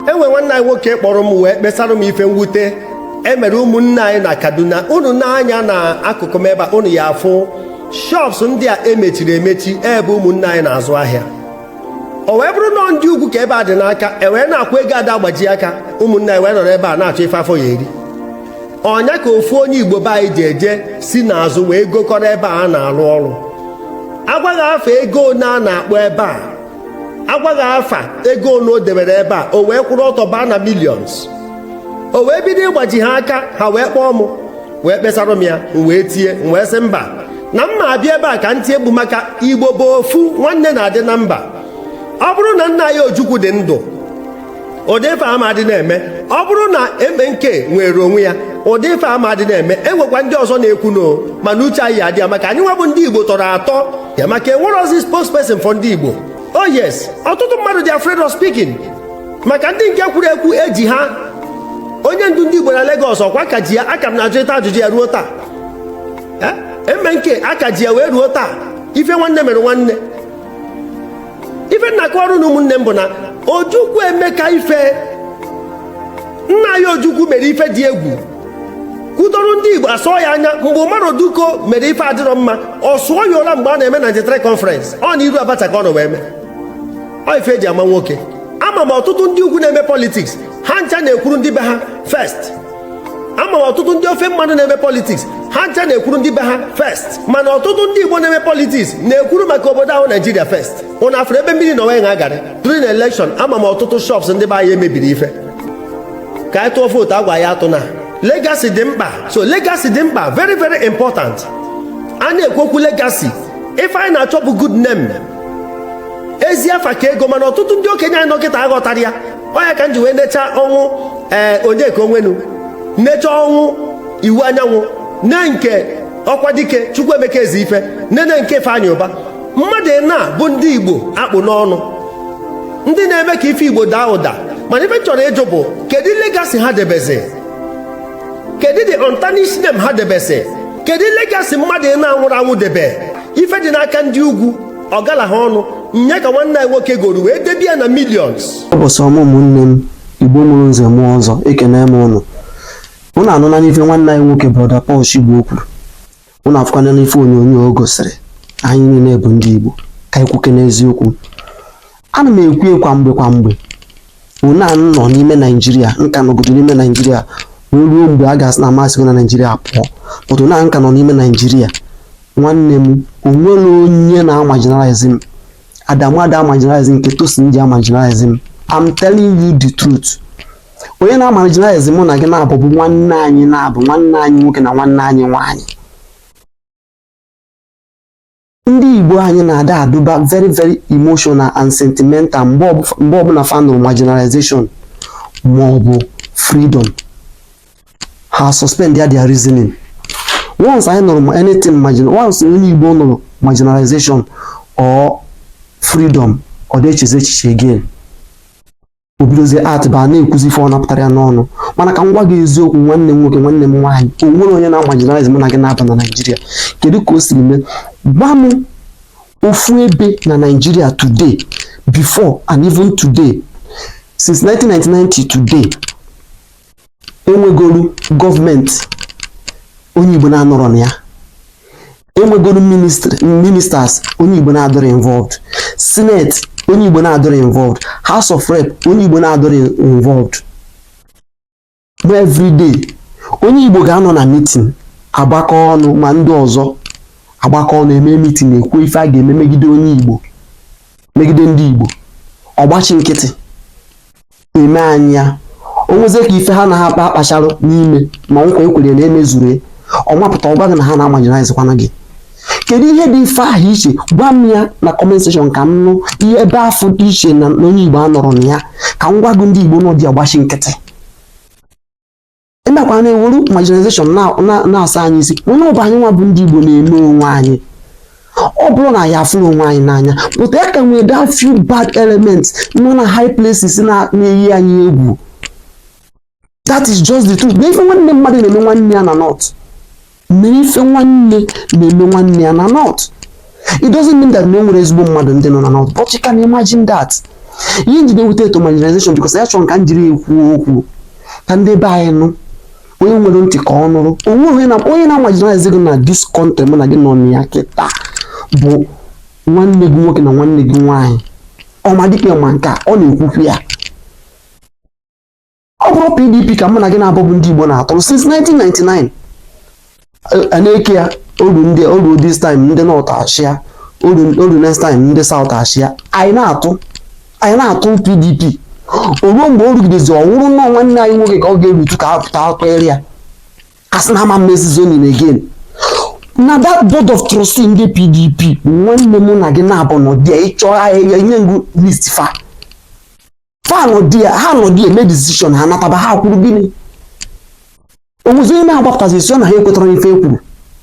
e nwere nwanne anyị nwoke kpọrọ m wee kpesara m ife mwute e mere ụmụnne anyị na kaduna unu nee anya na akụkụ m ebe a unu ya afụ shops ndị a emechiri emechi ebe ụmụnne anyị na-azụ ahịa o wee bụrụ na ndị ugwu ka ebe a dị n'aka e wee na-akwụ ego ada agbaji aka ụmụnne anyị wee nọrọ ebe a na-achọ ife afọ ya eri ọ nya ka ofu onye igbo be anyị ji eje si n'azụ wee gokọrọ ebe a na-arụ ọrụ a gwa ghị afa ego one a na-akpọ ebe a a gwa ghị afa ego ole o debere ebe a o wee kwụrụ ọtọ baa na millions o wee bido ịgbaji ha aka ha wee kpọọ m wee kpesara m ya m wee tie m wee sị mba na m ma abịa ebe a ka m tie mkpu maka igbo bụ ofu nwanne na-adị na mba ọ bụrụ na nna anyị ojukwu dị ndụ ụdị ife a ma adị na-eme ọ bụrụ na MNK nwere onwe ya ụdị ife a ma adị na-eme e nwekwa ndị ọzọ na-ekwu no mana uche anyị adị ya maka anyị nwa bụ ndị igbo tọrọ atọ ya maka enwerozi spokesperson for ndị igbo oh yes ọtụtụ mmadụ dị afraid of speaking maka ndị nke kwuru ekwu eji ha onye ndu ndị igbo na Lagos ọ kwa aka ji ya aka m na-ajụ ịta ajụjụ ya ruo taa MNK aka ji ya wee ruo taa ife nwanne mere nwanne ife m na-akọwara unu ụmụnne m bụ na ojukwu emeka ife nna anyị ojukwu mere ife dị egwu kwudoro ndị igbo asọ ya anya mgbe umaru dikko mere ife adịrọ mma ọ sụọ ya ụla mgbe a na-eme 93 conference ọ na iru abacha ka ọ nọ wee mee ọ ife eji ama nwoke ama m ọtụtụ ndị ugwu na-eme politiks ha ncha na-ekwuru ndị be ha first ama m ọtụtụ ndị ofe mmanụ na-eme politiks ha ncha na-ekwuru ndị be ha first mana ọtụtụ ndị igbo na-eme politiks na-ekwuru maka obodo a bụ naijiria first ụnụ afụrụ ebe mmiri na onwe ha gara during election ama m ọtụtụ shops ndị be anyị emebiri ife ka anyị tụọ vootu a gwa anyị atụna legacy dị mkpa so legacy dị mkpa very very important a na-ekwu okwu legacy ife anyị na-achọ bụ good name ezi afa ka ego mana ọtụtụ ndị okenye anyị nọ kịta aghọtarọ ya ọ nya ka m ji wee necha ọnwụ ee eh, onyeka onwenu necha ọnwụ iwuanyanwụ nee nke ọkwadike chukwuemeka ezeife nene nke ifeanyị ụba mmadụ anọ a bụ ndị igbo a kpụ n'ọnụ ndị na-eme ka ife igbo daa ụda mana ife chọrọ ịjụ bụ kedu legacy ha debezi kedu the untarnished name ha debezi kedu legacy mmadụ anọ a nwụrụ anwụ debe ife dị n'aka ndị ugwu ọ gala ha ọnụ nya ka nwanne anyị nwoke goro wee debe ya na millions ụbọchị ọma ụmụnne m igbo mụrụ nze mụọ ọzọ ekene m ụnụ ụnụ anụla n'ife nwanne anyị nwoke brọda Paul Shigbo kwuru ụnụ afụkwana n'ife onyonyo o gosiri anyị niile bụ ndị igbo ka anyị kwukene eziokwu ana m ekwu kwa mgbe kwa mgbe ụna nọ n'ime naijiria nka nọgodo n'ime naijiria wee ruo mgbe a ga-asị na amasị gị na naijiria pụọ pụtụ na nka nọ n'ime naijiria nwanne m o nwere onye na-amarginalize m adamu ada amarginalize nke tosin ji amarginalize m i'm telling you the truth onye na-amarginalize mụ na gị naabọ bụ nwanne anyị naabọ nwanne anyị nwoke na nwanne anyị nwaanyị ndị igbo anyị na-ada adụba very very emotional and sentimental mgbe ọbụla fa nụrụ marginalization ma ọ bụ freedom ha suspend ya their reasoning once anyị nụrụ ma anything margin once onye Igbo nụrụ marginalization or freedom ọ da echezi echiche again o bidozie act ba na-ekwuzi ife ọbụna pụtara ya n'ọnụ mana ka m gwa gị eziokwu nwanne m nwoke nwanne m nwaanyị o nwere onye na-amarginalize mụ na gị naabọ na naijiria kedu ka o siri mee gwa m ofu ebe na naijiria today before and even today since 1999 till today e nwegolu gọọmenti onye Igbo na-anọrọ na ya e nwegolu ministers onye Igbo na-adịrọ involved senate onye Igbo na-adịrọ involved house of rep onye Igbo na-adịrọ involved ma every day onye Igbo ga-anọ na meeting agbakọ ọnụ ma ndị ọzọ agbakọ ọnụ e mee meeting e kwuo ife a ga-eme megide onye Igbo megide ndị Igbo ọ gbachi nkịtị e mee anyị ya o nwezie ka ife ha na ha akpa akpacharụ n'ime ma nkwa e kwere na emezuru ọ mapụta ọ gwa gị na ha na-amarginalizekwana gị kedu ihe dị ife ahụ iche gwa m ya na comment section ka m nụ ihe ebe afọ dị iche na onye igbo anọrọ na ya ka m gwa gị ndị igbo nọ dị agbachi nkịtị ị makwa na e wuru marginalization na- na- na-asa anyị isi mana ọ bụ anyị nwa bụ ndị Igbo na-eme onwe anyị ọ bụrọ na anyị afụrọ onwe anyị n'anya but a ka nwere that few bad elements nọ na high places na- na-eyi anyị egwu that is just the truth na ife nwanne mmadụ na-eme nwanne ya na north mere ife nwanne na-eme nwanne ya na north it doesn't mean that na o nwerọ ezigbo mmadụ ndị nọ na north but you can imagine that ihe m ji ewute eto marginalization because ya chọrọ ka m jiri ekwu okwu ka ndị be anyị nụ onye nwere ntị ka ọ nụrụ o nwee onye na-amarginalize gị na this country mụ na gị nọ na ya kịta bụ nwanne gị nwoke na nwanne gị nwaanyị ọma dịka ma nke a ọ na-ekwukwu ya ọ bụrụ pdp ka mụ na gị naabọ bụ ndị igbo na-atụrụ since 1999 a na-eke ya o ruo ndị o ruo this time ndị north achịa o ruo o ruo next time ndị south achịa anyị na-atụ anyị na-atụ pdp o ruo mgbe o rugidezi ọ wụrụ nnọọ nwanne anyị nwoke ka ọ ga-erutu ka a pụta a tụọrọ ya a sị na a ma emezi zoning again na that board of trustee ndị pdp nwanne mụ na gị naabọ nọ dị ị chọọ ahịa nye m gụọ list fa fa nọdụ ya ha nọdụ ya mee decision ha nataba ha kwuru gịnị onwezi onye na-agbapụtazi sị na ha ekwetarọ ife e kwuru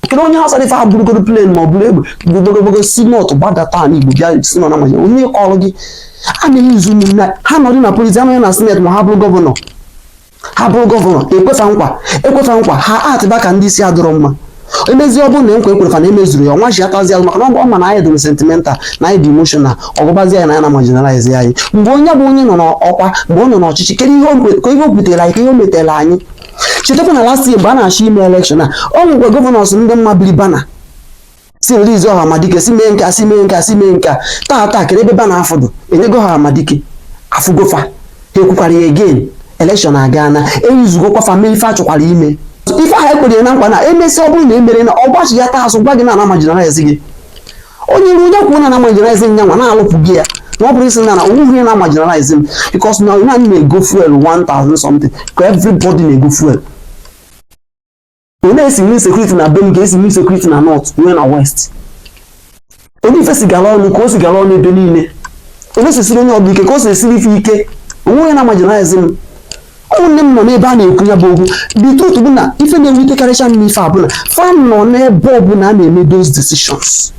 kedu onye ha sara ife ha burugoro plane ma ọ bụrụ egbe gbogogogogo si north gbadata ala Igbo bịa sị nọ na manya onye kọrọ gị a na-use ụmụnne ha nọdụ na polisi ha nọdụ na sineti ma ha bụrụ gọvanọ ha bụrụ gọvanọ e kwe fa nkwa e kwe fa nkwa ha atịba ka ndị isi adịrọ mma emezie ọ bụrụ na nkwa e kwere fa na emezurọ ya ọ nachighatazi azụ maka na ọ ma na anyị dị sentimental na anyị dị emotional ọ gwabazi anyị na a na-amarginalize anyị mgbe onye bụ onye nọ n'ọkwa mgbe ọ nọ n'ọchịchị kedu ihe o butere anyị ka ihe o metere anyị chetakwa na last year mgbe a na-achọ ime election a ọ nwekwa gọvanọs ndị mabiri bana sị release Ọhamadike sị mee nkea sị mee nkea sị mee nkea taa taa kere ebe ba na afọdụ enyego Ọhamadike afụgo fa ha ekwukwara ya again election aga na e usegokwa fa mee ife a chọkwara ime ife ahụ e kwere na nkwa na e mesịa ọ bụrụ na emerọ ya ọ gbachighata azụ gwa gị na a na-amarginalize gị onye ruo onye kwuo na a na-amarginalize nya nwa na-alụpụ gị ya na ọ bụ asị na na onweghị onye na-amarginalize m because na onye anyị na-ego fuel 1000 something ka everybody na-ego fuel ọ na-esi nwe security na be m ka e si nwe security na north nwee na west onye ife si gara ọnụ ka o si gara ọnụ ebe niile ọ na-esisiri onye ọbụla ike ka o si esiri ife ike onwe onye na-amarginalize m ụmụnne m nọ n'ebe a na-ekwu ya bụ okwu the truth bụ na ife na-ewutekarịcha m n'ife a bụ na fa nọ n'ebe ọbụla a na-eme those decisions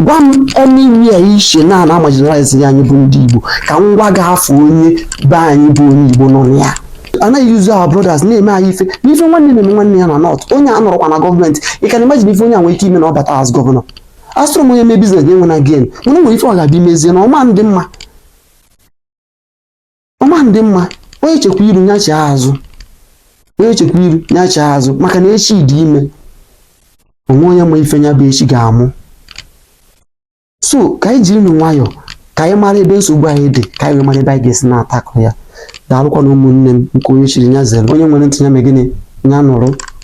gwa m anywhere i che na a na-amarginalize ya anyị bụ ndị Igbo ka m gwa gị a fụ onye be anyị bụ onye Igbo nọ na ya a na-use our brothers na-eme anyị ife n'ife nwanne na-eme nwanne ya na north onye a anọrọkwa na gọọmenti ị ka na-imagine ife onye a nwere ike ime na ọ bata as gọvanọ asịrọ m onye mee business nya enwena gain mana o nwere ife ọ ga-abịa imezie na ọ ma-adị mma ọ ma-adị mma onye chekwa iru nya chee azụ onye chekwa iru nya chee azụ maka na echi dị ime onwe onye ma ife nya bụ echi ga-amụ so ka anyị jirinụ nwayọọ ka anyị mara ebe nsogbu anyị dị ka anyị wee mara ebe anyị ga-esi na-attack ya daalụkwanụ ụmụnne m nke onye chiri nya zere onye nwere ntị ya mee gịnị nya nụrụ